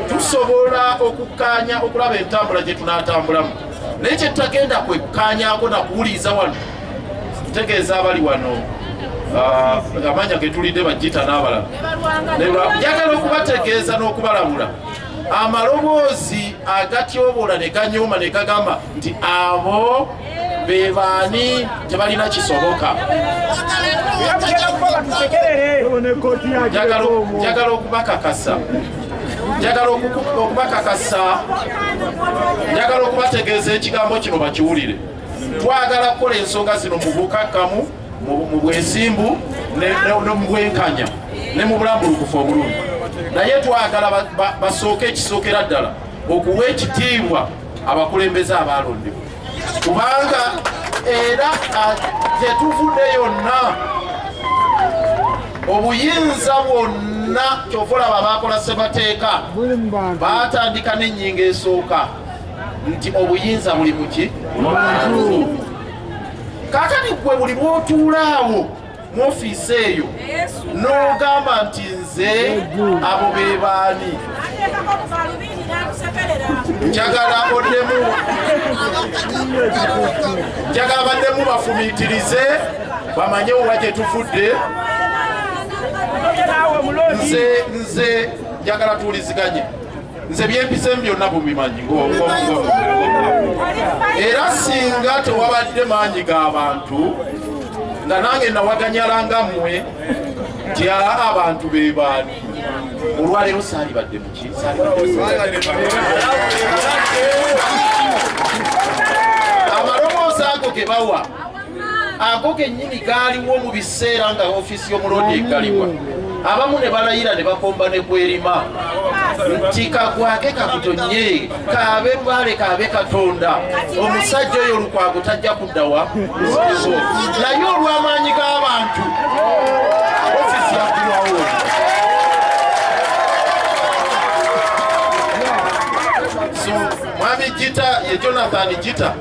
tusobola okukkaanya okulaba entambula gye tunaatambulamu naye kye tutagenda kwekkaanyaako na kuwuliriza wano ntegeeza abali wano ah, amanya ge tulidde bajjita n'abalala njagala okubategeeza n'okubalabula amaloboozi agatyoboola ne ganyooma ne gagamba nti abo bebaani tebalina kisoboka njagala okubakakasa njagala okubakakasa njagala okubategeeza ekigambo kino bakiwulire twagala kukola ensonga zino mu bukakkamu mu bwesimbu ne mu bwenkanya ne mu bulambulukufu obulungi naye twagala basooke ekisookera ddala okuwa ekitiibwa abakulembeze abaalondebwa kubanga era gyetuvude yonna obuyinza bwonna kyova olaba baakola ssebateeka baatandika n'ennyingo esooka nti obuyinza buli muki kakati gwe buli bwotuulaawo mu ofiisi eyo n'ogamba nti nze abo be baani njagala oddemu njagala baddemu bafumiitirize bamanye owa gye tufudde nze nze njagala tuwuliziganye nze byempisemu byonna bubimanyi era singa tewabadde maanyi ga bantu nga nange nawaganyala nga mmwe nti aa abantu be baani olwaleero saalibadde muki amaloboozi ago ge bawa ako kennyini kaaliwo mu biseera nga ofiisi y'omuloodi egalibwa abamu ne balayira ne bakomba ne kwerima nti kagwake kakutonye kaabe lwale kaabe katonda omusajja oyo olukwago tajja kuddawa naye olw'amaanyi g'abantu ofiisi yakulwawo mwami jita ye jonathan jita